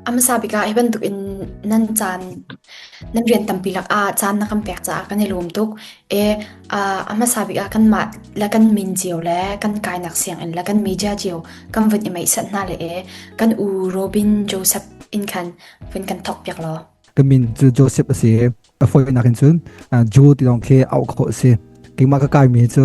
A hmasa bik ah hi bantuk in nan caan nan rian tampi lakah caan na kan pek caah kan i lawm tuk. E ah a hmasa bik ah kanmah le kan min cio le kan kainak sianginn le kan media cio kan vun i meihsat hna le e kan u Robin Joseph in khan vun kan thawk piak law. Ka min cu Joseph a si i a fawinak in cun Joe ti lawng khi auh khawh a si. Keimah ka kaimi cu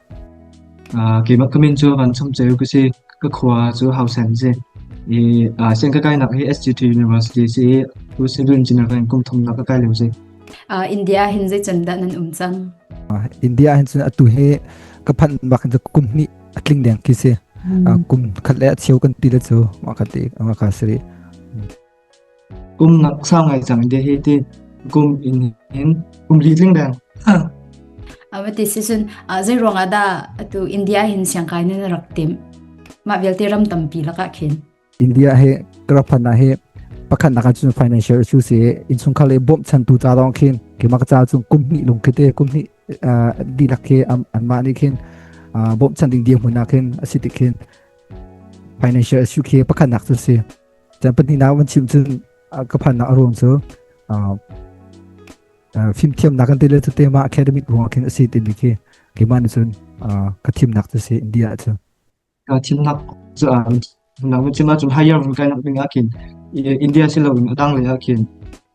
Keimah ka min cu vancung ceu ka si. Ka khua cu Hausen a si. I sian ka kainak hi SGT University si i Pu Civil Engineer ka in kum thum nak ka kai lio si. India ah hin zei candah nan um cang? India ah hin cun atu hi ka phanh bak hin kum hnih a tling deng khi si. Kum khat le a cheu kan ti le cu ma khat le ma ka siri. Kum ngak sau ngai cang de he tin kum in hin kum li tling deng. Avati si sun zei ruang dah tu India hin siangkai nin rak tim. Ma vialte ram tampi laka khin. India he kerapana he pakhat naka chu financial issues e insung khale bom chan tu ta dong khin ki mak cha chu kum ni lung khite kum ni di lak ke an ma ni khin bom chan ding dia huna khin asiti khin financial issue ke pakhat nak chu si Tiah pahnihnak van chim cun ka phannak a ruang cu fimthiamnak kan tile cu tema academic ruang khin a si timi khi keimah nih cun ka thimnak cu si India ah cu. Ka thimnak cu nak nu cima cun higher vun kai nak ding ah khin India si lo in a dang lei ah khin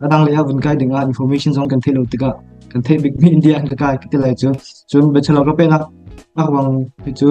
a dang lei ah vun kai ding ah information zong kan thei lo tikah kan thei bik mi India an ka kai ti lai cu cun bachelor ka pe nak nak wang hi cu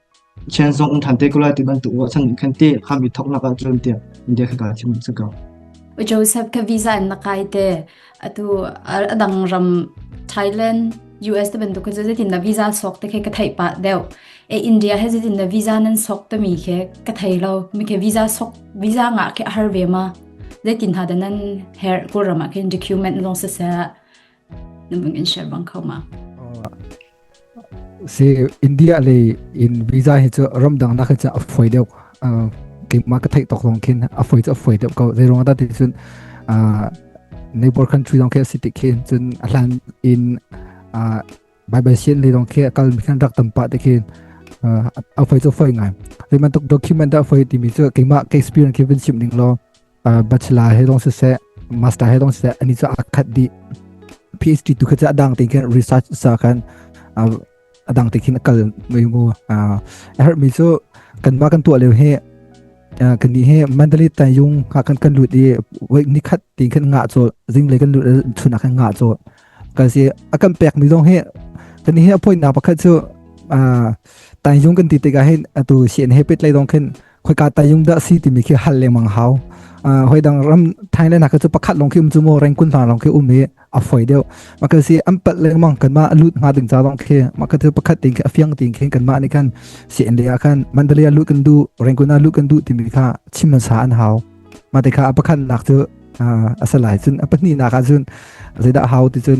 Thian zong an ṭhan te ko lai ti bantuk ruahchan in khan ti kham i thawknak ah cun tiah India kha ka chim cu ko. Joseph ka visa in na kai te atu a dang ram Thailand US te bantuk khan zetin na visa sok te khe ka thei pa deuh e India he zetin na visa nan sok te mi khe ka thei lo mi ke visa sok visa nga ke har ve ma zetin ha da nan her ko rama khin document long se se na bang in share bang kho ma si india le in visa hi chu ramdang na kha cha phoi deu ke ma ka thai tok dong khin a phoi cha phoi deu ko zai rong da ti chun neighbor country dong ke city khin chun ahlan in bai bai sian le dong ke kal mi kan rak tam pa te khin a phoi cha phoi ngai le man tok document a phoi ti mi chu ke ma ke experience ke bin sim ding lo bachelor he dong siseh master he dong siseh ani cha akhat di phd tu kha cha dang te kan research sa kan adang te khin akal mai mu er mi chu kan ma kan tu le he kan ni he mentally ta yung ha kan kan lut i wei ni khat tin kan nga cho jing le kan lut chun kan nga cho kan si akam pek mi dong he kan he appoint na pakhat chu ta yung kan ti te ga he atu sien he pet lai dong khin khoika ta yung da si timi khi hal lengmang hau hoi dang ram thai le na ka chu pakhat long khi um chu mo reng kun na long khi um hi a foi deu ma ka si am pat lengmang kan ma lut nga ding cha dong khi ma ka chu pakhat ting khi afiang ting khi kan ma ni kan si en le kan mandalia lu kan du reng kun a lu kan du timi kha chim sa an hau ma te kha apakhan nak chu asalai chun apatni na ka chun zaida hau ti chun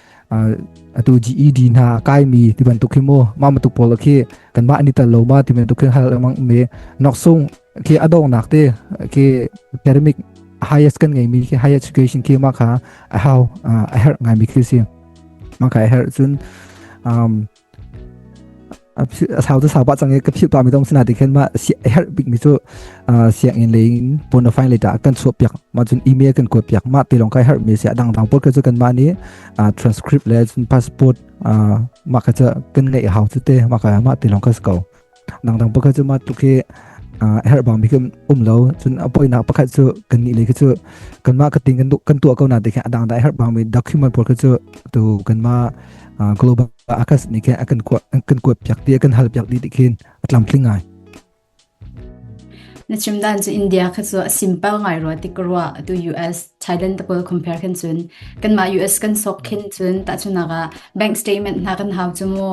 atu GED hna kaimi ti bantuk hi mu ma matuk pol khi kan ma ani tal lo ma ti bantuk hin hal mang me nok sung khi adong nak te khi academic highest kan ngai mi khi higher education khi ma kha how a her ngai mi khi si ma ka her chun um a sau te sau pa chang i ka phil pa mi dong sina ti khen ma si a her bik mi chu siang in le in pon of leta kan chu piak ma chun email kan ko piak ma te long kai her mi si adang dang por ke chu kan ma ni transcript le chun passport ma ka cha kan ngai hau te te ma ka ma te long ka sko dangdang pakhat cu mah tluk hi herh bang mi um lo cun apoinak pakhat cu kan ni le khi cu kan mah ka ting kan kan tuah ko na te khin adang dai herh bang mi document por khi cu tu kan ma global akas ni ke kan kwa kan kwa piak ti kan hal piak di ti khin atlam tling ngai na chimdan chu india kha chu a simple ngai ro ti kro tu us thailand ko compare khan chun kan ma us kan sok khin chun ta chuna ga bank statement na kan hau chu mo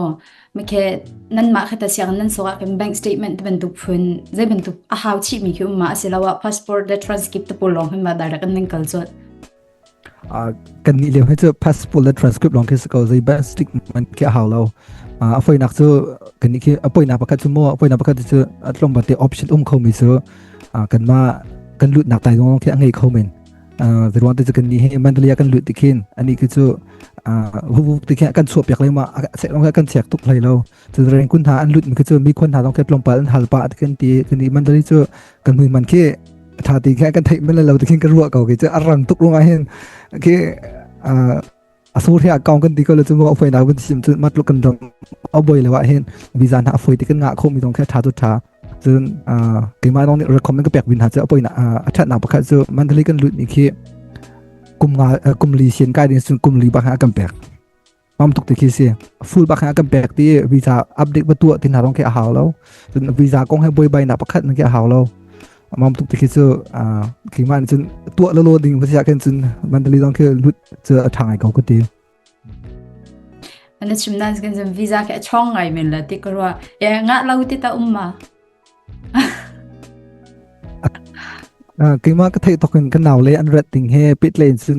Makhe nanmah khata siang nan so ah kan bank statement te bantuk phun zai bantuk a hau chi mi khi umma asilo a passport le transcript te pul long hin ba direct an nan kal chu kan ni leu he chu passport le transcript long khi ko zai ba stick man khi hau lo a foi nak chu kan ni khi a poi na pakhat chu mo a poi na pakhat chu atlom ba te option um kho mi chu kan ma kan lut nak tai long khi a ngei kho men ruang te kan ni he mandalia kan lut tikhin ani ki chu hubu tikhin kan chuah piak le ma sek long kan chek tuk hlai lo tu reng kun ha an lut mi chu mi khon ha dong ke plong pal an hal pa kan ti kan ni mandali chu kan hui man khi tha ti kha kan thei men lo tikhin kan ruwa ko ki chu arang tuk runga hin ki a so ri a kaung kan ti ko le cu mo afoi na kan sim cu matlu kan dong a boi le wa hin visa na afoi ti kan nga kho mi dong khe tha tu tha cun keima dong nih recommend ka pek bin ha chu apoi na a that na pakhat chu mentally kan lut mi khi kum nga kum li sien kai ding sun kum li ba kha kan pek mam tuk ti khi si full ba kha kan pek ti visa update ba tu tin ha dong khe a hau lo cun visa kong he boi bai na pakhat na ke hau lo Mam tuk tikhi cu kingma nih cun tuah lolo ding va siah khin cun mentally dong khi lut cu a ṭhang ai ko kuti. Mana chim nan kan zam visa ke chong ngai men la ti karwa e nga lo ti ta umma. Kingma ka thei thokin kan naw le an rat ding he pit len cun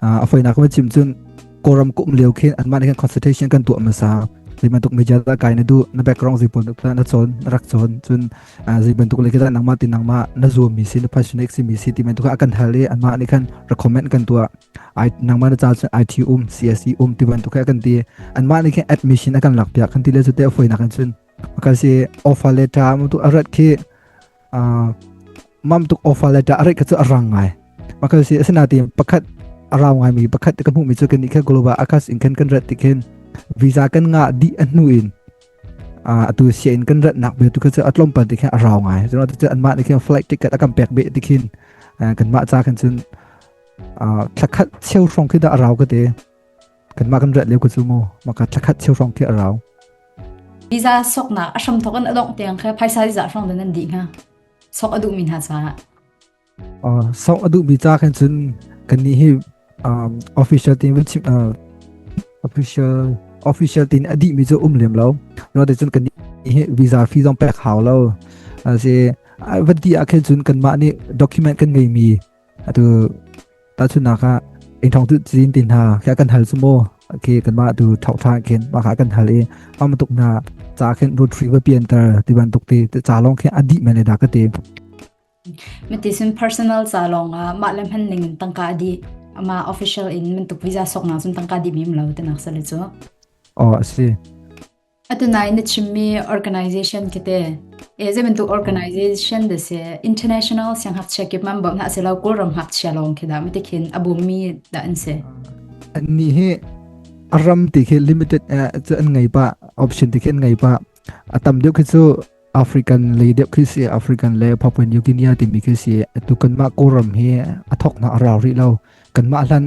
a foinak ma chim cun kawram kum leo khin anmah khin consultation kan tuah masa zeiban tuk media da kai na du na background zeipan tuk na chon rak chon cun zeiban tuk le kita nangma ti nangma na zo mi si na passionate si mi si ti men tu ka kan hal e anma ni khan recommend kan tua i nangma na cha cun IT um CSE um ti ban tu ka kan ti anma ni khan admission kan lak pia kan ti le zu te foi na kan cun ka si offer letter mu tu arat khi mam tuk ofa le ta arek ka a rang ngai makal si asina ti pakhat arau ngai mi pakhat ka hmu mi chu kan ikha global akas in kan kan rat tikhin visa kan nga di anu in atu sia in kan rat nak be tu ka chu atlom pa tikhin arau ngai so na tu an ma tikhin flight ticket akam pek be tikhin kan ma cha kan chun thakhat cheu trong khi da arau ka te Kanmah kan rat leu ka cu mu maka thlakhat cheu hrong khi a rau. Visa sokna a hram thok an adong tiang kha phaisa visa hrong dan an di ha sok adu min ha sa sok adu mi ta kan cun kan ni hi official tin official official tin adi mi जो um lem lo no de cun kan ni visa fee zong pek hau lo se vati a khen cun kan ma ni document kan ngei mi atu tahchunhnak ah ing tu cin tin ha kha kan hal sumo ke kan ma tu thau tha khin ma kha kan hal i am tuk na cha khin root free ba pian tar ti ban tuk ti cha long khe adi mane da ka te metisin personal cha long a ma le man ning tangka di ama official in man tuk visa sok na sun tangka di mim lo te nak sa le chu o si Atunai na chimmi organization kete e ze bantuk organization de se international siang hak chia kip man bo na se lo kul ram hak chia long khi da ma tikhin abumi da an se an ni hi aram ti khi limited e an ngai ba option ti khi an ngai ba atam deuh khi chu African le deuh khi si African le Papua New Guinea timi khi si tu kanmah Kawlram hi a thoknak a rau rih lo kanmah hlan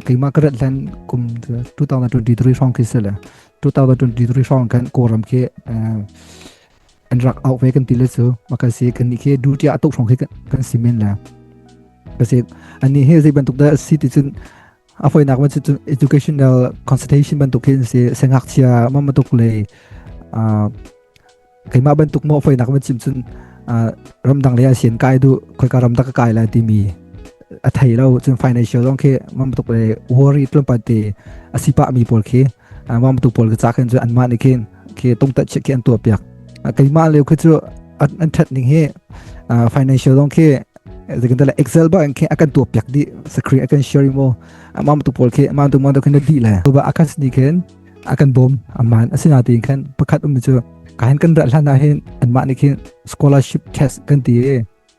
keimah ka rat hlan kum 2023 hrawng khi si le 2023 hrawng kan Kawlram khi an rak out ve kan ti le chu ma ka si kan ni khi duty a tuk hrawng khi kan simen le kasi ani he zei bantuk da si ti cun a foinak man educational consultation bantuk hin si sengakchia mamatuk le keimah bantuk mo foinak man cim cun ramdang le asian kai du khoika ramdang kai la timi a thei lo cun financial long khi mamatuk le worry tlumpa te asipa mi pol khi wam tu pawl ka cha khin cu an mah ni khin ke tung tat chiah ki an tuah piak keimah leo khi cu an that ning hi financial dong khi zikin tala excel ba kan akan tuap piak di screen akan sharing mo amam tu pol khi amam tu mang to khin di le to ba akan sni khin akan bom aman asina ti khan pakhat um chu kain kan ra hlana hin anma ni khin scholarship test kan ti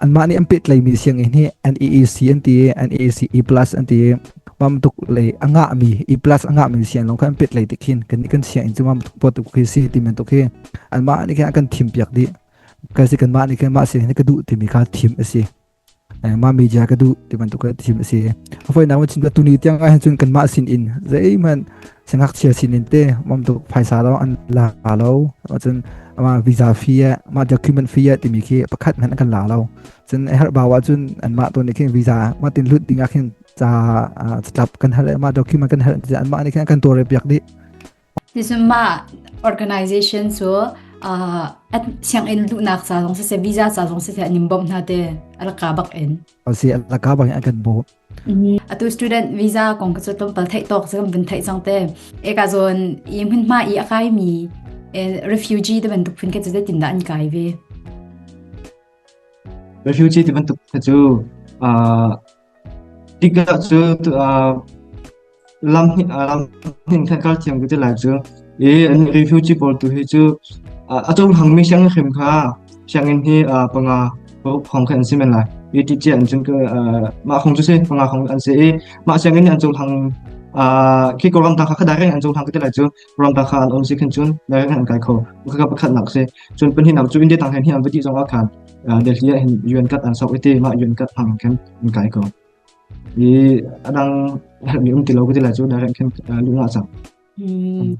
Anmah nih an pehtlaimi sianginn hi NEEC an ti i NEEC E plus an ti i mam tuk lei a ngahmi E plus a ngahmi sian lawng kha an petlai tik hin kan kan sianginn cu mam tuk pot tuk khi si ti bantuk hi anmah nih khin a kan thim piak dih kan si kanmah nih khin mah sian hi ka duh timi kha thim a si ma media ka duh ti bantuk thim a si a foinak chin tuni tiang ah hin cun kanmah sin in zeihmanh Singakchia sinin te mom tuk phaisa lo an la lo cun ama visa fee ah ma document fee ah timi khi pakhat ngan kan la lo cun e har bawa cun an ma to ni khin visa ma tin lut dinga khin cha tlap kan hal ma document kan hal an ma ni khin kan tore piak di Nizuma organization so at siang in lu nak sa long se visa sa long se anim bom na te alaka bak in o si alaka bak an kan bo atu student visa kong ka cu tlawmpal theih tawk cu kan vun theih cang te e ka zon i hmun hma i a kai mi refugee te bantuk phun ke cu te tin da an kai ve refugee te bantuk te cu tiktok cu lam hnin ah lam hnin khan kal thiam ka ti lai cu i an refugee pawl tu hi cu a cung hangmi sianginn hrem kha sianginn hi panga phong kha an si men lai i ti ce an cun ka mah khong cu si panga khong an si i mah sianginn nih an cung hang khi ko ramta kha kha direct an cung hang ka ti lai cu ramta kha an om si khan cun direct an kai kho kha ka pakhat nak si cun pan hinak cu india tang hen hi an vati zong a khan delhi hin un kat an sok iti ma un kat hang khan an kai ko i a dang mi um ti lo ka ti le cu na reng khin lung a cang. Mm.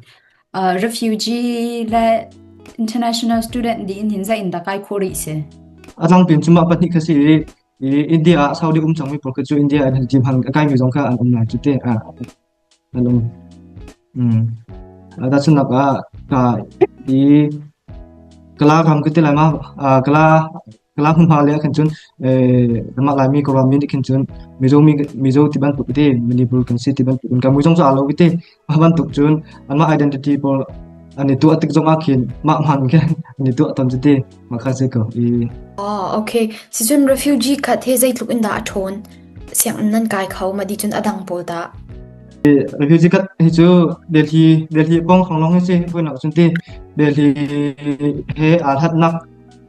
Uh, refugee le international student di in hin za in da kai khori se. A dang pin cuma pahnih ka si i India Saudi um cang mi pol ka cu India an team hang kai mi zong ka an um lai tu te a Tahchunhnak ah ka i kala kam kan ti lai ma kala hmunhma lei ahkhan cun namah Laimi Kawlram mi nih khin cun Mizo Mizo ti bantuk iti Manipur kan si ti bantuk in kan mui zong cu aa lo iti mah bantuk cun anmah identity pawl an i tuah tik zongah khin mah hmaan khin an i tuah tawn cuti. Maka zei ka i Oh, okay. Sicun refugee khat he zeitluk in dah a ṭhawn. Sianginn nan kai kho ma di cun a dang pawl dah. refugee kat hi cu Delhi Delhi bong khang long hi si vui nak cun ti Delhi he aa hlat nak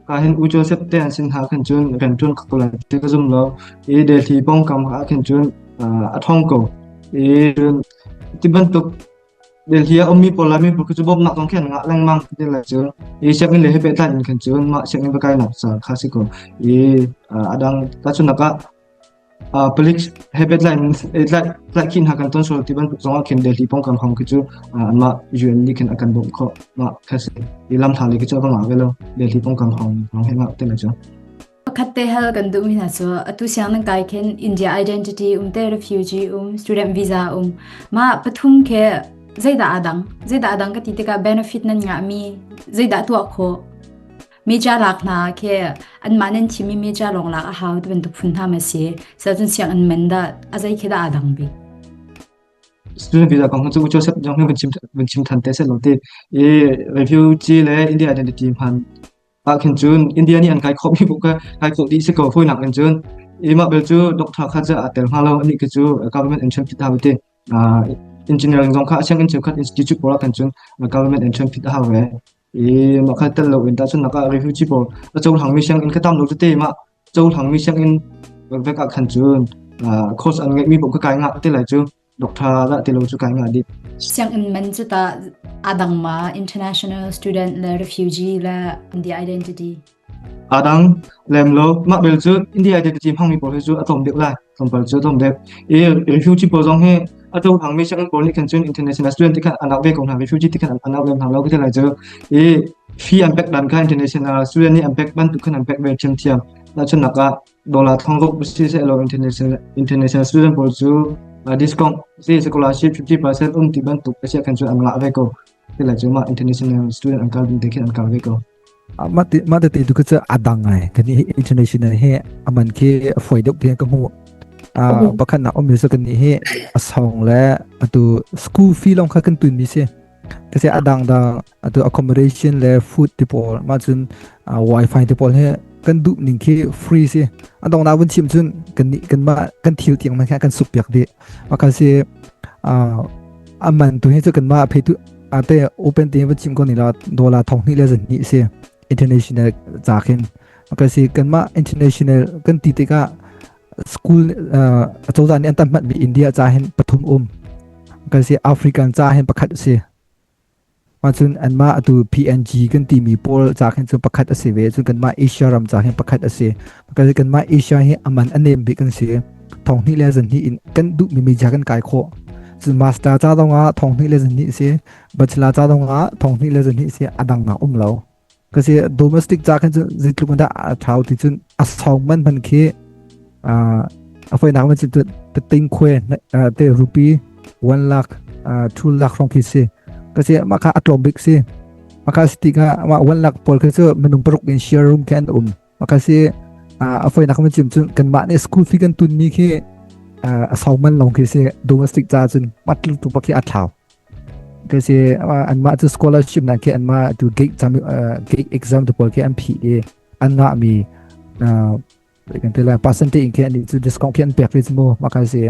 ka hin u Joseph te an sin ha khan cun kan tun ka kulan ti ka zum lo i Delhi bong kam ha khan cun a thong ko i ti bantuk Delhi a ummi pawl lai miphun cu bawmhnak zong khin a ngah lengmang ti lai cu. I sianginn le he pehtlai in khin cun mah sianginn bakainak ca kha si ko. I a dang tahchunak ah palik he pehtlai in tlaih khin ha kan ton sual ti bantuk zong ah khin Delhi pongkam hong khi cu anmah UN nih khin a kan bawmh khawh mah kha si. I lam hna le khi cu a va ngah ve lo. Delhi pongkam hong he ngah te lai cu. Pakhat te hal kan duhmi hna cu atu siang nan kai khin India Identity um te refugee um student visa um ma pathum khe zeidah adang zeidah adang ka ti tikah benefit nan ngahmi zeidah tuah kho meja lak hna khe anmah nan thimi meja lawng lak a hau ti bantuk phun hna ma si sacun siang an men da azai khe da adang bi student visa kong cu Joseph Jong hi van chim van chim than te se lo ti i refugee le India identity hman Ah khin cun India nih an kai khawh mi bu ka kai khawh dih si ko hawinak in cun imah bel cu doctor kha ja tel ma lo ani ke cu government entrance phit ha te engineering zong kha asang in cheukhat institute pora kan cun government entrance phit ha ve i ma kha tel lo in ta chun naka refugee pol a châu hang mi sang in khatam lo te ma châu hang mi sang in vek a khan cun course an ngai mi bu ka kai nga te lai chu Doktor dah ti lo cu kai ngah dih. Sianginn man cu ta adang ma international student le refugee le India identity. Adang lem lo mah bel cu India identity hmangmi pawl hi cu atom dek lai. Tompal cu atom dek. I refugee pawl zong hi ato hangmi sianginn pawl nih khan cun international student ti khan anak ve ko hna refugee ti khan anak lem hna lo kita lai cu. I fee an pek dan kha international student nih an pek bantuk khan an pek ve thiam thiam. Na chun nak ah dollar thongruk si selaw international student pawl cu discount si scholarship 50% um ti bantuk asia kan cu an ngah ve ko tila cu ma international student an kal ding te khin an kal ve ko ma te ma te tu ka cha adang ai kan international he aman ke foi dok te ka mu bakhan na om sa kan ni he asong le atu school fee long kha kan tun mi se ka se adang da atu accommodation le food te pawl mah cun wifi te pawl he kan duh ning khi free si a dong na vun chim cun kan kan ma kan thil tiang man kha kan sup piak di ma kan si a man tu he chu kan ma phe tu ate open te va chim ko ni la dollar thong ni le zan ni si international cha khin ma si kan ma international kan ti te ka school a chozan ni antam mat bi india cha hen pathum um kan si african cha hen pakhat si Ahcun anmah atu PNG kan timi pawl ca khin cu pakhat a si ve. Cun kanmah Asia ram ca hin pakhat a si. Kanmah Asia hi aman a nem bik an si. Thong hnih le zan hnih in kan duhmi media kan kai khawh. Cun master ca zongah thong hnih le zan hnih si, bachelor ca zongah thong hnih le zan hnih si a dang nak um lo. kasi domestic ca khan cun zeitluk in dah a thau ti cun a song man man khi uh, a foi nak man cun tu te ting khuê te rupee 1 lakh two lakh rong khi si kasi ma kha a tlom bik si ma kha siti ka ma 1 lakh pol khi chu minung paruk in share room kan um ma kha si a foi nak man cim cun kan ma ne school fee kan tun mi khi a song man long khi si domestic ca cun matlu tu pa khi a thau Kasi anmah cu scholarship na ke anmah tu gig exam gig exam tu pawl ke an phi i an nga mi kan te la percentage ke ani chu discount ke an pek fi mu ma ka se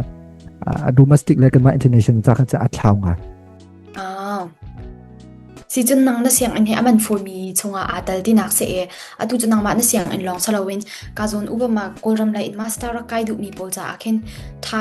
a domestic le kan ma international ta kha a thlau nga ah si chun nang na siang an he aman for mi chunga atal ti nak se e atu chun nang ma na siang an long salawin ka zon ubama kolram la in master kai du mi pol cha akhen tha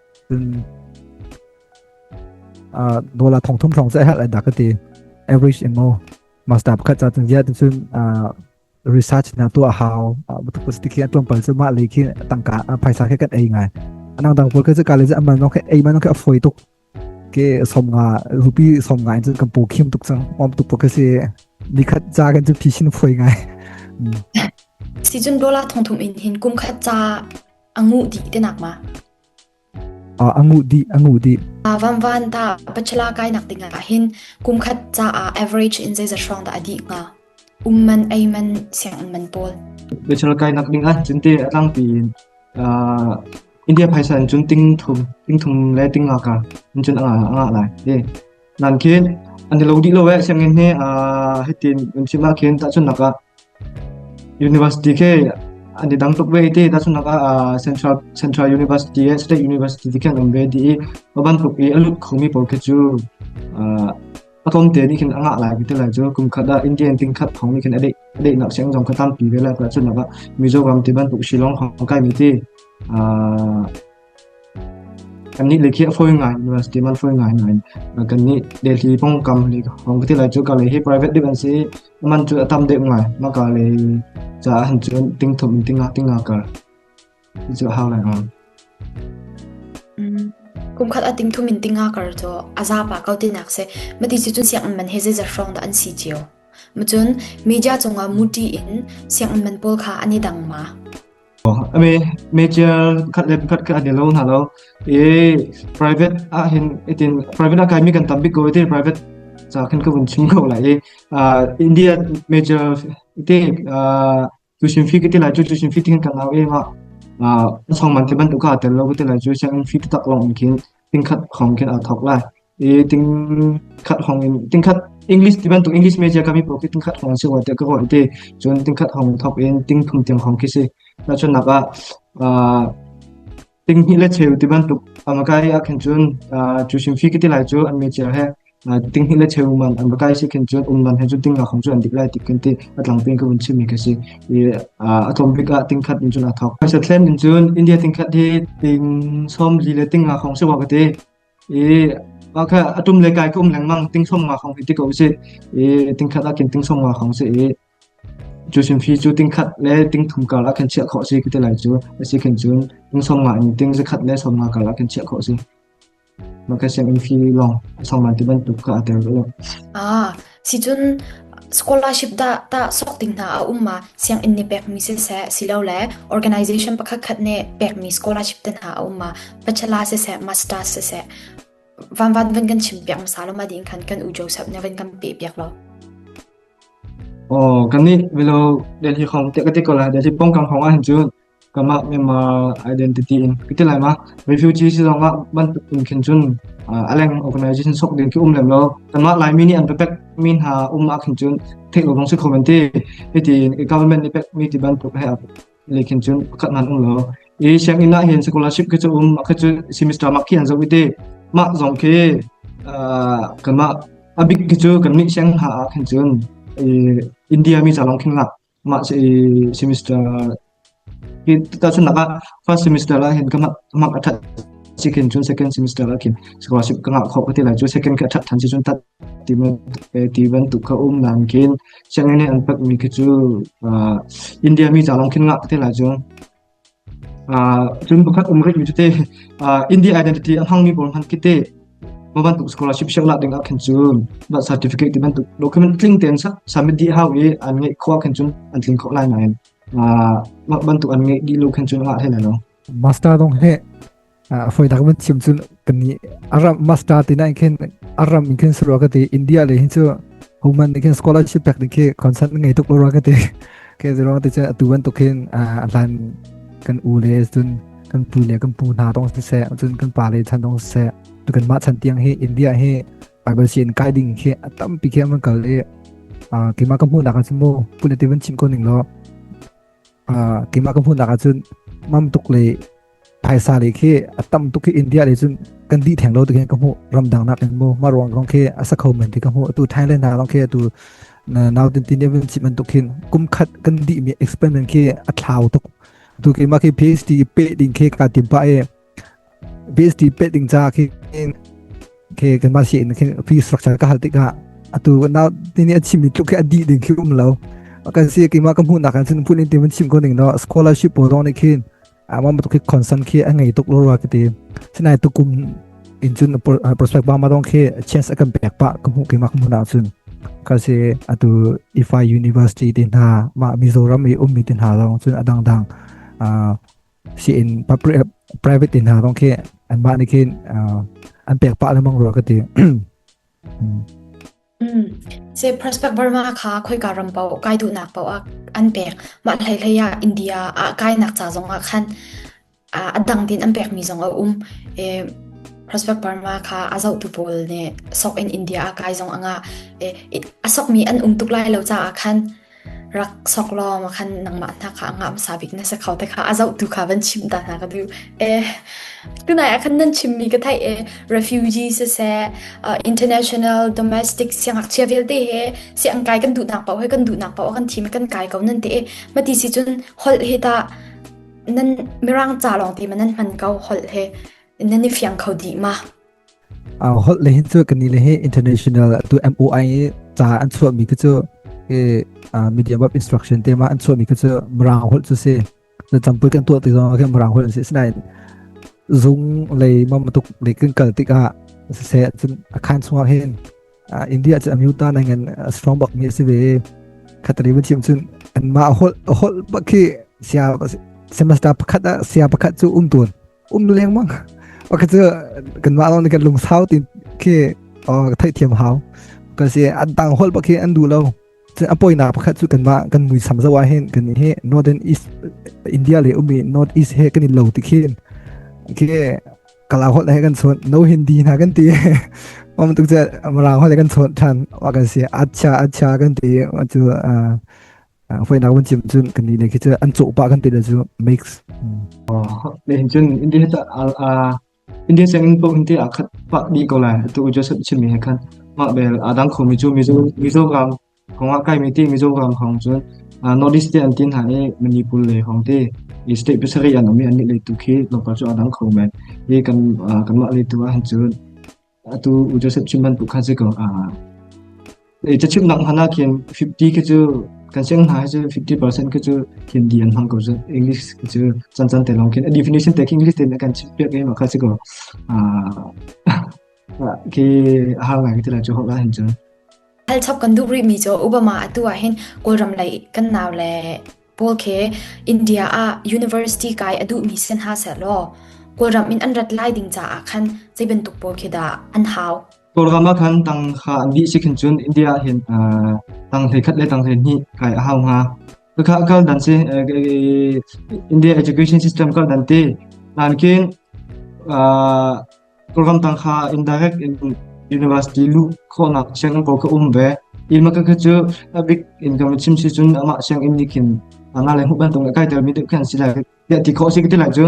cun dola thong thum hrawng sai hal da ka ti average ingo master pakhat cha tun zia cun research na tu a hau butuk stick an tuam pal chu ma le khi tangka phaisa ke kat ei ngai anang dang pol ke chu kale aman no ke ei man ke afoi tuk ke som nga rupi som nga in kan po khim tuk sang om tuk ke se ni khat cha kan chu phishin phoi ngai si chun dola thong thum in hin kum khat cha a nguh dih te nak ma a a nguh dih a nguh dih a van van ta pachela kai nak ding ah hin kum khat ca a average in zei za strong da adi nga um man ei man siang man pawl pachela kai nak ding ah cinte atlang pi India phaisa in cun ting thum ting thum le ting nga ka in cun anga anga lai eh nan khin an i lo dih lo eh sianginn hi uh, hitin un chim ah khin tahchun naka university ke an i dang tuk ve te tahchun naka uh, central central university eh state university ti khan am ve di ban tuk i alut khomi pol ke chu uh, atlom te ni khin anga lai bi te lai chu kum khata indian ting khat thong ni khin adei adei nak siang jong khatam pi ve la ka chun laka mizo gam ti ban tuk shilong hong kai mi ti uh, Kannih le khi a fawi ngai mi a si ti man fawi ngai ngai. Kannih Delhi pongkam le hong ka ti lai cu ka le hi private dip an si. Man cu a tam deuh ngai. Ma ka le caah han cun tingthum in tinga tinga kar. Ti cu a hau lai ang. Kumkhat a tingthum in tinga kar cu a zapa kau ti nak se. Ma ti si cun siang man he zeizat hrawng dah an si cio. Ma cun media cungah muti in siang man pawl kha an i dang ma. Meitial khat le khat kha an i lo hna lo. I private ah hin itin private ah kaimi kan tam bik ko itin private ca khan ka vun chim ko lai i India major ite tuition fee kiti lai chu tuition fee tin kan lau em a song man te ban tu ka tel lo kiti lai chu siang fee tak long mi khin tingkhat hong khin aa thawk lai i tingkhat hong in tingkhat english ti bantuk english media kami po khi tingkhat hong si wa te ka hoi te cun tingkhat hong thawk in ting thum tiang hong khi si ta chun nak ah ting hi le cheu ti bantuk amakai a khen cun chu sim fi ki ti lai chu an media he Tinghi le cheu man an va kai si khin cun um man he cu tingah khong cu an dik lai ti kan ti a tlang pin ka vun chimmi khi a si. I a tlawm bik ah tingkhat in cun a thawk. Phaisa thlen in cun India tingkhat hi ting sawm li le ting nga khong si wa ka ti. I okay atum le kai ka um lengmang ting sawm nga khong hi ti ko si. I tingkhat ah khin ting sawm nga khong si i Cu hrimhri cu tingkhat le tingthum karah khan chiah khawh a si ka ti lai cu. A si khin cun inn sawmnga in ting zakhat le sawmnga karah khan chiah khawh a si. Mah ka sianginn fee lawng a sawm lai ti bantuk kha aa tel lo. Ah, sicun scholarship dah ta sok ding hna a um ma? Sianginn nih pekmi siseh, silo le organization pakhat khat nih pekmi scholarship te hna a um ma? Bachelor siseh, masters siseh, van van van kan chim piak hmasa lo ma ding khan kan u Joseph ne van kan pe piak lo. Aw kan nih velo Delhi hong te ka ti ko lai Delhi pongkang hong ah hin cun kamah mema identity in ka ti lai ma refugee si zong ah bantuk in khin cun aleng organization sok din ki um lem lo tamah laimi nih an pepek min ha um ah khin cun theih lo dong si khomen ti hiti government nih pek mi ti bantuk he Lehkhin cun pakhat ngan um lo. I sianginn ah hin scholarship khi cu um, khi cu semester mark khi an zoh i te. Mah zong khi uh, kanmah a bik khi cu kannih siang ha ah khin cun India mi calang khin ngak mah si semester ki ta chun naka first semester la hin kamak kamak athat si khin chun second semester la khin scholarship ka ngak kho ka ti lai chu second ka athat than si chun tat ti bantuk kha um langkin sianginn an patmi khi cu India mi ca lawng khin ngah ka ti lai cu. cun pakhat um rikmi cu te India identity a hmangmi pawl hman kite mah bantuk scholarship siak la ding ah khan cu ba certificate ti bantuk document tling ten sa submit di hau i an ngai khwa khan cun an tling khok lai na en mah bantuk an ngai di lo khan cun nga he na no master dong he a foi tak man chim chu kan ni aram master ti na khin aram in khin sura ka ti india le hin chu human ni khin scholarship pek ni khi concert ngai tuk lo ra ka ti ke zero te che atu ban to khin lan kan u le tun kan pu le kan pu na dong se tun kan pa le chan dong se tu kan ma chan tiang hi india hi bible si in guiding hi atam pi khe man kal le ki ma ka mu na ka chu mo pune ti ban chim ko ning lo ki ma ka mu na ka chu mam tuk le phaisa le khi a tam tuk khi India le cun kan di theng lo te ka hmu ramdang nak in mu ma ruang kong khi a sa kho men ti ka hmu tu Thailand na rong khi tu nau tin tin even chi man tukhin kum khat kan di mi experiment khi a thlau tuk tu ki ma khi PhD pe ding khi ka tim pa e PhD pe ding cha khi khi kan ma si in khi fee structure ka hal tika atu na tin ni a chim ni tluk khi a di ding khi um lo kan si ki ma ka hmu na kan sin pun in timan chim ko ding no scholarship po rong ni khin Ama matu khi concern khi a ngei tuk lo ra kiti. Sinai tukum in chun prospect ba ma dong khi chance akan pek pa ka mu ki mak mu na chun. Kasi atu IFI University ti na ma Mizoram i ummi tin ha long chun adang dang si in private tin ha dong khi an ma ni khi an pek pa lamang ro kati. Cyprus paoh Burma kha khoika ram paoh kai duhnak paoh ah an pek. Mah hleihlei ah India ah kainak ca zong ah khan a dang din an pekmi zong a um. Prospect Burma kha a zohtu pawl nih sok in India ah kai zong a ngah. A sokmi an um tuk lai lo caah khan rak sok law ma khan nangmah hna kha a ngah hmasa bik na si kho te kha a zohtu kha van chim ta hna ka duh eh tunai ah khan nan chimmi ka theih eh refugee siseh uh, international domestic siangakchia vialte he si an kai kan duh nak pau he kan duh nak pau kan thi me kan kai ko nan te eh mati si chun hol he ta nan mirang cha long ti ma nan man ko hol he nan ni fiang kho di ma holh le hin cu kan ni le hi international tu MOI ca an chuah mi te cu ke medium of instruction te ma an chuah mi ke cu mrang holh chu si na champui kan tuah ti zong ke mrang holh si sinain zung lei ma matuk le kan kal tikah se cun a khan chungah hin India cu amyuta na ngan strong bak mi si ve khatari ba chim chun an ma holh holh ba khi sia semester pakhat sia pakhat chu um tun um lengmang ok cu kan ma long kan lung sau tin khi o thai thiam hau ka si an tang hol pa khi an du lo apoi na pakhat chu kan ma kan mui sam zawa hen kan he northern east india le umi north east he kan lo ti khin ke kala hol he kan son no hindi na kan ti om tuk che amra hol kan son than wa kan si acha acha kan ti chu hoinak van chim cun kan nih khi an cawh pa kan te da cu makes oh ne cun india ta a india cheng po india a khat pa di ko lai tu just chim mi khan ma bel adang khom mi chu mizo mizo ram khonga kai mi ti mizo ram khong chun north east te an tin ha e manipur le hong te state pesari an omi an ni le tu khi lokal chu adang khom men e kan kan ma le tu han chun Atu Joseph cu man pukhat cu ko a cachimnak hman ah khin 50 khi cu kan siang hna cu 50% khi cu hindi an hmang ko cu English khi cu chan chan te long khin a definition te English te kan chim piak ngei ma kha si ko khi a har ngai ti la chu ho la hin chun hal chap kan duh ri mi cho obama atu ah hin kawlram lei kan naw le Paul khi India ah university kai a duhmi sin ha selaw Kawlram in an rat lai ding caah khan zei bantuk pawl khi dah an hau. Kawlram ah khan tang kha an dih si khin cun India hin tang hlei khat le tang hlei hnih kai a hau hnga. Kakha kal dan si India education system kal dan ti. Nankin Ramdang kha indirect in university luh khawhnak sianginn pawl ka um ve. Hi maka kha cu a bik in kan chim si cun amah sianginn nih khin ana le huban tung kai tel mi deuh khan si lai. Ya ti khawh si ka ti lai cu.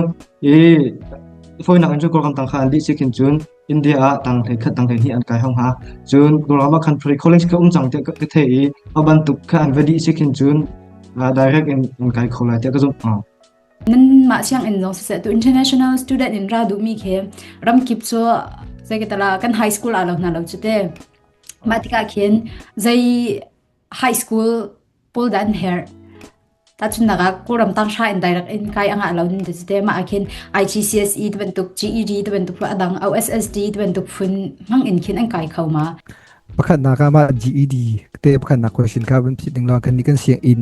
I foinak in cu Ramdang kha an lih si khin cun India ah tang hlei khat tang hlei hi an kai hang ha. Cun Gurama Country College ka um cang tiah ka thei i a bantuk kha an va dih si khin cun direct in an kai kho lai tiah ka zumh hna. Nanmah sianginn lawng siseh tu international student in ra duhmi khi ramkip cu zei ka tala kan high school ah lo hna lo cu te. Mah tikah khin zei high school pawl dah an herh tacun naga kawlram tang sha in direct in kai anga lo ni de te ma akhin IGCSE te bantuk GED te bantuk fu adang OSSD te bantuk fun hang in khin an kai kho ma pakhatnak ah mah GED te pakhatnak question ka van phit ning lo kan ni kan siang in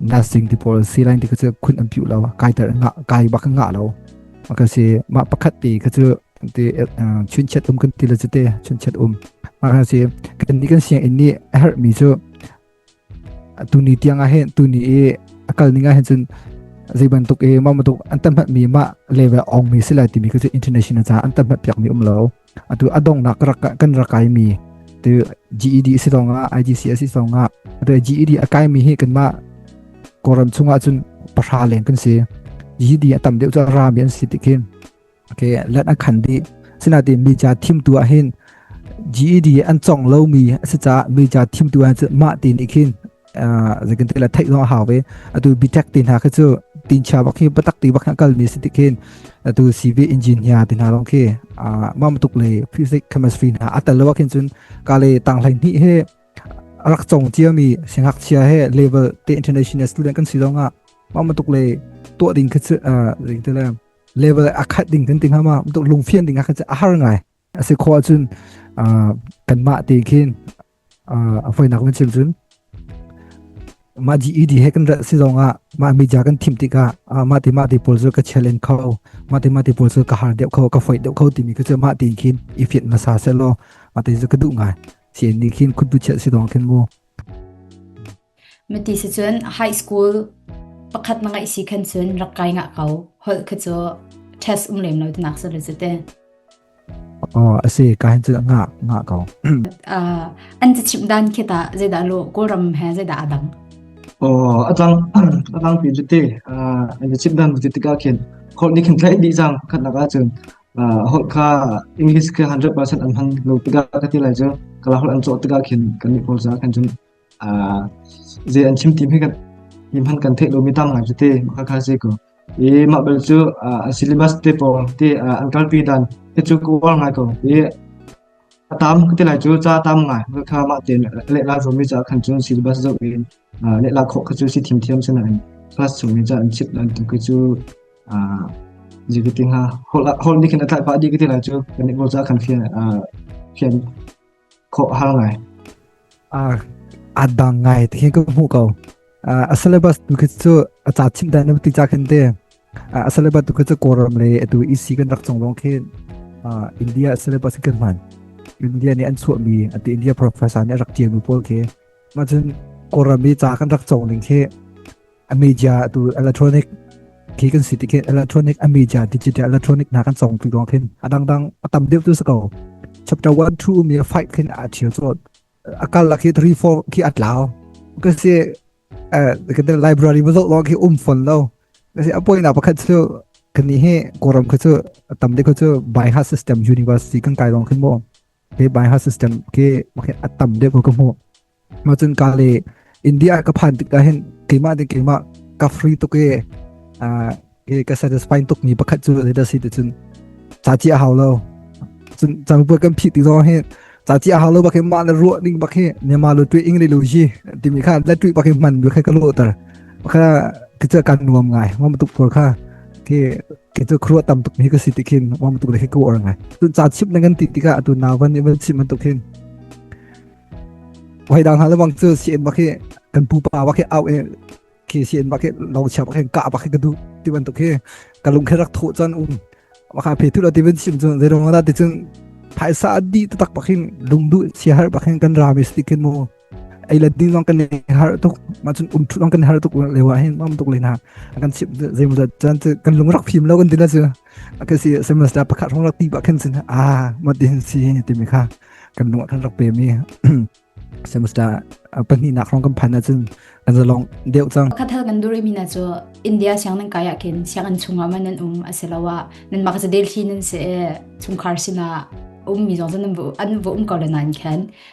na sing ti pawl si lai ti ka cu khun an piu lo kai ter nga kai bak nga lo ma ka si ma pakhat te ka cu te chun chet um kan ti la te chun chet um ma ka si kan ni kan siang in ni her mi chu tu ni tiang a hen tu ni e akal ninga hen chun zeiban tuk e ma ma tuk an tam hat mi ma level ong mi sila ti mi ka chu international cha an tam hat piak mi um lo atu adongnak kan rak kaimi tu GED si zongah IGC si zongah atu GED akaimi hi kanmah kawram chungah cun pahra leng kan si GED atam deuh cu rami an si ti khin okay let akhan di sinatin mi cha thim tu ahin GED an chong lomi asi cha mi cha thim tu an mah ti ni khin zekin til a theih zong a hau ve atu bitek ti hna khi cu tin chia bak hi batak ti bak kal mi si ti khin atu CV engineer ti hna long khi mam tuk le physics chemistry hna atal lo khin chun ka le tang hlai ni he rak chong chia mi singak chia he level te international student kan si zonga mam tuk le to ding khi chu zekin til level akhat ding tin ting hama tuk lungfian ding a khi a har ngai a si khawh ahcun kanmah te khin a foinak na chim cun mah di edi he kan rat si zongah mah media kan thim tikah mah ti mah ti pawl cu ka challenge kho mah ti mah ti pawl cu ka har deuh kho ka foit deuh kho timi cu mah ti khin i fit na sa se law mah ti cu ka duh ngai si ni khin khut bu chiah si dong khin mu Mati si cun high school pakhat na ngaih si khan cun rak kai nga ko. Holh kha cu test um lem lo te nak sa le zate. Oh, asi ka hin cu nga nga ko. Uh, an ti chim dan khi ta zeda lo Kawlram he zeda adang. Oh, atang atang pi zate an ti chim dan zate tika khin holh ni khin tlai di jang khat na ka cun holh kha English kha 100% an hang lo tika ka ti lai cu kala holh an cho tika khin kan ni pol za kan jun Zei an chim ti hme kan hi hman kan theih lomi tam ngai te maka kha se ko. I mah bel cu syllabus te pawng te an kalpi dan te cu ka uar ngai ko. I a tam ka ti lai cu ca tam ngai kha mah te le la zomi ca khan cu syllabus zo in le la khawh kha cu si thim thiam sana in class zomi ca an chip dan tu ka cu jikiti nga hol ni khin atlai pa di ka ti lai cu kan ni bo ca khan phian phian khawh har ngai. A dang ngai ti ka hmu ko. A syllabus tu khi cu a ca chim dai na ti ca khin te. A syllabus tu khi cu Quorum le atu EC kan rak chung lawng khin India syllabus kan hman. India nih an chuah mi ati India professor nih a rak tiam mi pawl khi. Ma cun Quorum i ca kan rak chung ning khi a media tu electronic khi kan si ti khin electronic a media digital electronic na kan chong pi dong khin a dang dang a tam deuh tu sako chapter 1 2 mi fight khin a thiu so akal la khi 3 4 khi atlaw kan se eh kan library mo zo lo khi um phone lo kan se apoi na pakhat chu kan ni he koram khu chu tam de khu chu by heart system university kan kai dong khin mo Ke Baihal system ke makin a tam deuh ko ka hmuh. Mah cun ka le India ka phan tikah hin keimah ding keimah ka free tuk e ke ka satisfying tuk mi pakhat cu zei dah si ti cun ca ci a hau lo. Cun cang buat kan phih ti zong hi ca ci a hau lo bakin mah le ruah ning bak hi ne ma lo tu ing le lo ji ti mi kha la tu bakin man bu kha ka lo tar. Kha kita kan nuam ngai. Mom tuk por kha ke Kei cu khuruah tam tuk mi ka si ti khin wam tuk le khi ka uar ngai. Tun ca chip nang an ti tikah atu na van even chip man tuk hin. Wai dang hal wang cu si en bak hi kan pu pa bak hi au e khi si en bak hi lo chia bak hin ka bak hi ka du ti ban tuk hi ka lung khe rak tho chan un maka phe thu la ti ben sim chun zero na ti chun phaisa di ta tak bakin lungdu si har bakin kan ramis ti kin mo ei la ding zong kan har tuk ma chun um thut zong kan har tuk le wa hin mam tuk le na kan chip zeimu da chan kan lung rak phim lo kan dina chu ka si semester pakhat rong rak ti ba khen sin a ma din si ti mi kha kan lung than rak pe mi semester pahnih nak rong kan phan na chun kan zalong deu chang kathal kan duri mi na chu india siang nan kaya ken siang an chunga ma nan um aselawa nan makza delhi nan se chungkhar sina um mi zong an bu an bu um ko la nan khen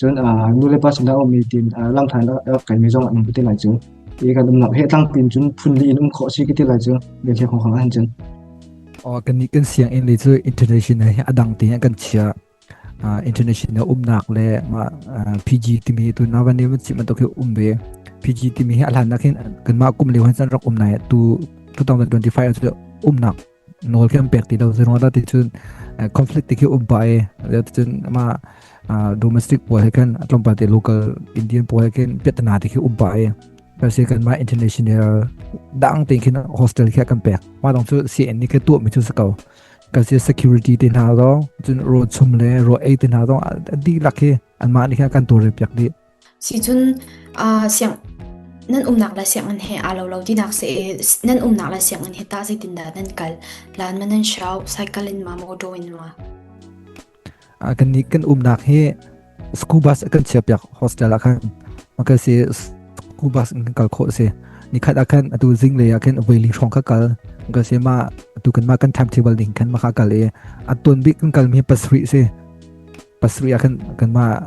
Cun uh, nulepa sinah a ummi tin uh, langthan a kaimi zong an um ti lai cu. I kan umnak he thlang tin cun phun li in um khawh si ka ti lai cu. Ve thia khong khang an cun. O kan ni kan siang in le cu international hi adang tin kan chia. Uh, international umnak le PG timi tu na van ne man chiman to ke umbe. PG timi hi alhan nakin kan ma kum le wan san rak umnai tu 2025 tu umnak nawl kan pek ti lo zeruang dah ti cun conflict ti khi um pa e lia ti cun ma domestic puai he kan tlawmpal te local indian puai he kan piatana ti khi um pa e per se kan ma international dang te khin hostel khi kan pek ma dong chu cn ni ke tu mi chu sakau ka se security te na do chun ro chum le ro ei te na do di lak hi an ma ni kha kan to re pek di Sicun siang nan umnak le sianginn he aa lo lo tinak si i nan umnak le sianginn hi tah zeitindah nan kal? Lan ma nan shau? Cycle in ma motor in ma? Kan umnak hi school bus kan chiahpiak hostel ah khan. Makal si school bus in kan kal khawh si. Nikhat ah khan atu zinglei ah khan voi li hrawng ka kal. Makal si ma atu kan ma kan timetable ding khan maka kal i a ton bik kan kal mi pasri si. Pasri ah khan kan ma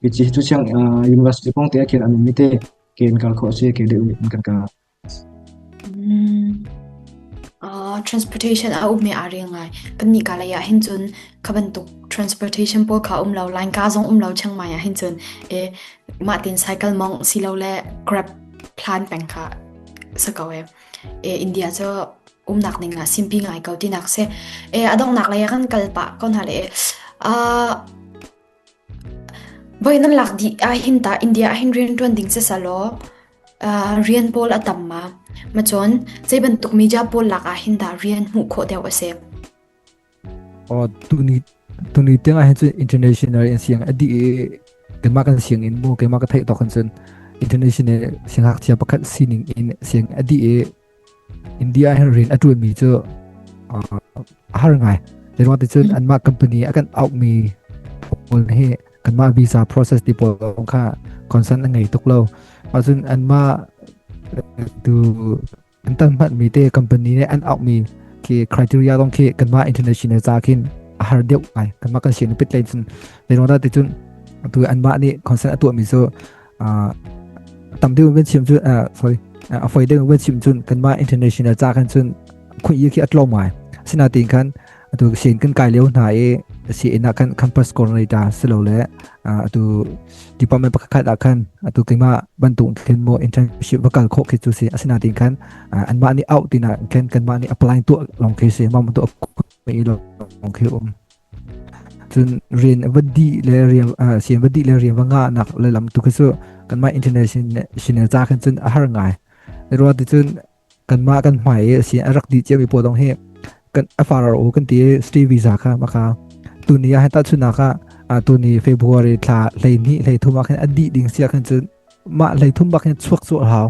Mici cu sianginn ah university kong te ah khin an um i te ke in kal khawh a si ke duh in kan kal. Uh, transportation a ummi aa ring ngai. Kan nih ka lei ah hin cun ka bantuk transportation pawl kha um lo, line ka zong um lo Chiang Mai ah hin cun e mah tin cycle mong si lo le grab plan peng kha sa ko e. E India cu umnak ning ah simpi ngai ko tinak se. E adongnak lei ah kan kal pa kon hale. Uh, Voi nan lak dih ahhin tah India ahhin rian ṭuan ding sisalaw rian pawl a tam ma? Macun zei bantuk media pawl lak ahhin dah rian hmuh khawh deuh a si? Tuni tiang ahhin cu international in siang a dih i keimah kan sianginn mu keimah ka theih tawk hin cun international sianghngakchia pakhat sining in siang a dih i India hin rian a ṭulmi cu a har ngai. Zeiruang ticun anmah company a kan auhmi pawl hi kanmah visa process ti pawl kong kha concern an ngei tuk lo. Ahcun anmah tu an tanhmatmi te company nih an auhmi khi criteria kong khi kanmah international ca khin a har deuh ngai. Kanmah kan sian i pitlei cun zeiruang dah ticun atu anmah nih concern a tuahmi cu tamte wen chim chu sorry a foi de wen chim chun kan ma international cha kan chun khun yi khi atlo mai sina tin khan atu sen kan kai leu na e si ina kan campus coordinator silo le atu department pakhat a khan atu kima bantung thlen mo internship vakal kho khi chu si asina tin khan an ma ni out tina ken kan ma ni apply tu long khi si ma tu me lo long khi um Cun rian a va dih le rian sian va dih le rian va ngahnak le lam tu khi cu kanmah internet sinah ca khan cun a har ngai. Rua ti cun kanmah kan hmai i sin a rak dih cio mi pawl dong hi kan a farar u kan ti i stay visa kha maka tuni ah heta chunak ah tuni February thla hlei hnih hlei thum ah khan a dih ding sia khan cun mah hlei thum bak hin chuak cu hau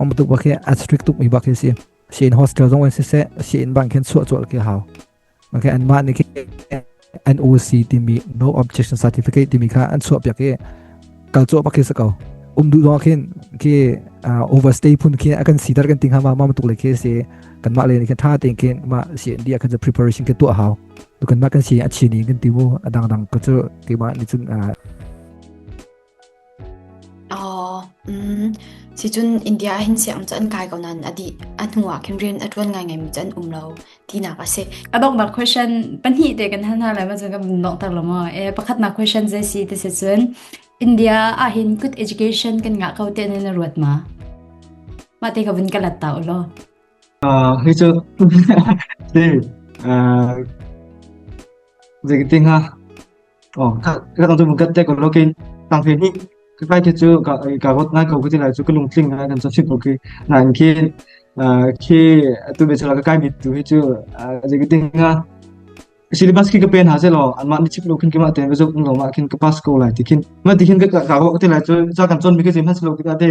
om tuk bak hi a strict tuk mi bak hi si sin hostel zong an si se sin bang khin chuah chuah ke hau Okay, an mah nih NOC timi No Objection Certificate timi kha an chuahpiak i kal chuah pa khi sa ko um duh dong khin khi overstay phun khi akan sidar kan ting hama ma tuk le khi si kan ma le ni kan tha ting khin ma CND akan preparation ke tu hau to kan ma kan si a chi ni kan timu adang dang ko chu ke ma ni chun Oh, mm. Sicun India ah hin siang cu an kai ko nain a dih a hnu ah khin rian a ṭuan ngaingaimi cu an um lo tinak a si. A donghnak question pahnih te kan hal hna lai ma cu kan donghter lo maw? Eh pakhatnak question je si te se cun India ah hin good education kan ngah ko te ne na ruat ma? Ma te ka vun ka lat ta ulo. Uh, hi cu hi uh, Dịch tinh ha Oh, ka ka dang tu kan te ko lokin tang phe ni ka kai te chu ka ka got ngai ko ki lai chu ka lung tling ngai kan sa chip ko ki na in ki khi tu be chala ka kai mi tu hi chu je ki ding nga syllabus ki ka pen ha zelo an ma ni chip lo kin ki ma te be zo lo ma kin ka pass ko lai ti kin ma ti kin ka ka got ti lai chu za kan chon mi ki jim ha slo ki ta te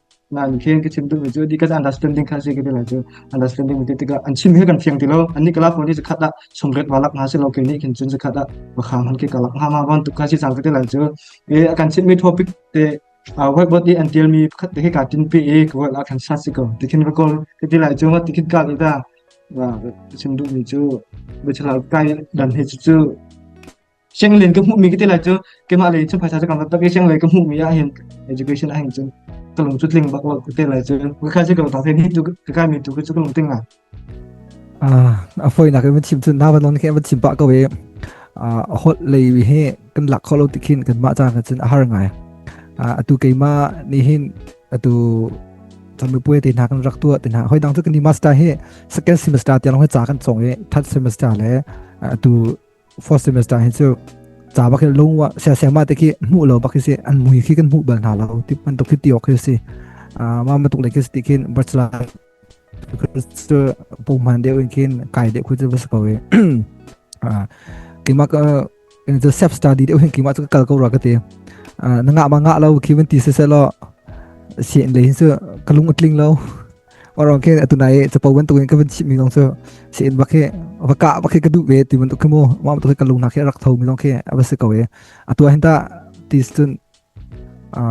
Nain khin ka chim duhmi cu dikan understanding kha si ka ti lai cu understanding ti tikah an chim hi kan fiang ti lo an ni kalak ni zakhat ah somret walak na si lo ke ni khin cun zakhat ah wakhang han ke kalak nga ma wan tuk ka si sang ti lai cu e kan chimmi topic te whiteboard ni an tialmi pakhat te hi ka tin pi e ka wal kan sa si ko tikhin ka kol ka ti lai chung tikhin ka ita wa chim duhmi cu bichla kai dan hi cu Shenglin ka hmuhmi ka ti lai cu keimah lei cu phaisa cu kam tak i shenglei ka hmuhmi ah hin education ah hin cun ka lung cu tling bak lo ka te lai cu ka kha si ka tang thai ni tu ka kai mi tu ka cu ka lung ting ngai ah a foinak in thim tun na van ke va thim pa ko e a hot lei hi kan lak kho lo tikin kan ma cha na chin a har ngai a tu keima ni hin a tu chami puye te na kan rak tu te na hoi dang tu kan ni master hi second semester te long cha kan chong e third semester le tu first semester hi cu ca bak in lung wa sia sia ma te ki mu lo bak si an mui khi kan mu bal hna lo ti man tuk khi ti ok khi si a ma ma tuk le khi ti kin bachelor ku pu man de in kin kai de ku ju bas ko e a ki ma ka in the self study de hin ki ma kal ko ra ka te na nga ma nga lo ki man ti se se lo si in le hin su kalung atling lo Orang khe atu nai capo bantuk in ka van chim mi zong cu se in bak hi va ka bak hi ka du ve ti bantuk khi mu ma tu ka lung na khi rak tho mi zong khi a va se ko e atua hin ta ti sun a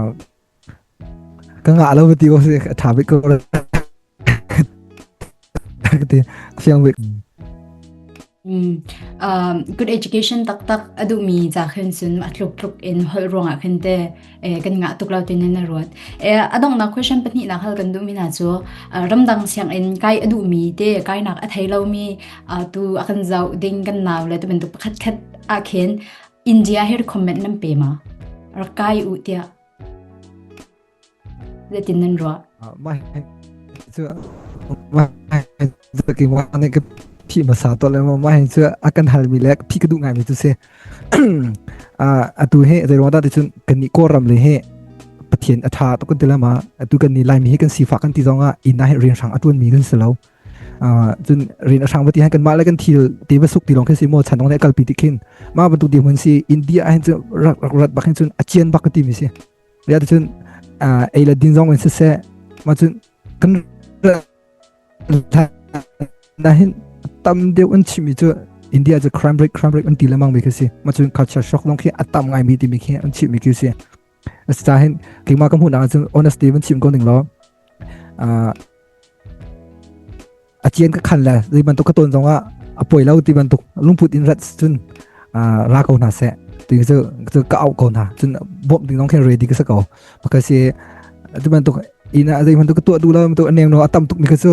ka nga lo ti bo se a tha bi ko ra ka ti khiang bi Ừm, ờm, good education taktak a duhmi ca khin cun a tluk tluk in holh ruangah khin te, eh, kan ngah tuk lo tinin a ruat. Eh, a donghnak question pahnihnak hal kan duhmi hna cu, ah, ramdang sianginn kai a duhmi te, kainak a thei lomi, ah, tu a kan zoh ding kan nau le tubantuk pakhatkhat ah khin India hi comment nan pe ma? Rak kai u tiah. Zeitin nan ruah? Mai cu mai zaki wa ne ke phi ma sa to le ma mai cu akan hal mi le phi ka du ngai mi tu se a atu he zai ruang da ti cun kan ni ko ram le he pathian atha to kan tila ma atu kan ni lai mi he kan sifa kan ti zonga ina he rin hrang atuan mi kan selo cun rin a hrang bati han kan ma le kan thil te ba suk ti long khe si mo chan ong ne kalpi ti khin ma ba tu di mun si india hen chu rat rat bak hen cun achian bak ti mi si riat cun ei la din zong in siseh ma cun kan na hin tam deuh an chimi cu India cu crime rate crime rate an ti lamang mi khi si ma cun culture shock dong khi atam ngai mi ti mi khi an chimi khi si sa hin kingma ka hmu na cun honesty van chim ko ning law a cian ka khan le zei bantuk ka ton zongah a poi lo ti bantuk lungput in rat cun ra ko hna seh ti cu cu ka au ko hna cun bawm ding zong khin ready ka sa ko bakasi ti bantuk ina zei bantuk ka tuah du lo bantuk a nem no a tam tuk mi ka cu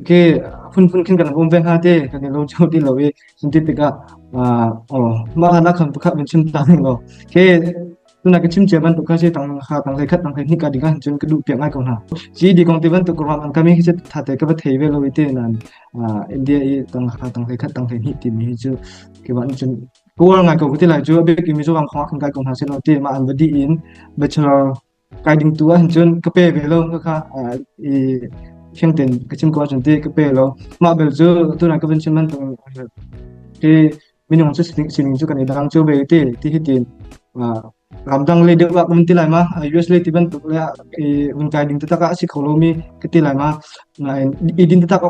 Ok, phunphun khin kan hum ve hnga ti kan i lawm cio ti lo i cunti tikah mah hlan ah khan pakhat vin chim ta ning law. Ok, tuna ka chim cia ban tuk kha si tang ha tang hlei khat tang hlei hnik ka ding ah cun ka duh piak ngai ko hna. Ci di kong ti ban tuk ruang an kami khi tha te ka va thei ve lo i te nan India i tang ha tang hlei khat tang hlei hnik ti mi hi cu kiwan cun kuwar ngai ko ti lai cu abik imi zo wang khong kan kai ko hna silo ti ma an badi in bachelor kai ding tu ahhin cun ka pe ve lo ka kha i khiang ten ka chim ko cun ti ka pe lo mah bel cu tu nan ka van chim man tu ti minung cu sining cu kan i dang chu ve ti ti hi tin ramdang le dewa um ti lai ma us le ti ban tuk le i un kai ding ta ka si kho lo mi ka ti lai ma na i din ta ka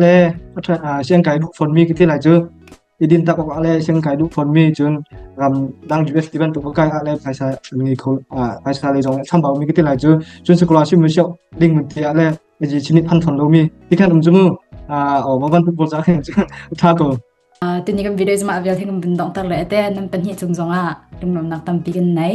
le a than siang kai lu phon mi ka ti lai chu Idin tak awk ah le seng kai duh fawn mi cun ram dang US ti bantuk ka kai ah le phaisa an ngei kho phaisa le zong chambau mi ka ti lai cu cun scholarship mu siok ding mun ti ah le ji chinit phan thon lo mi ti khan um jumu o ma ban pul cha khen tha ko tini kan videos ma avel thing bin dong tar le ate nam pan hi chung zong a lungnom nak tam pi kan nei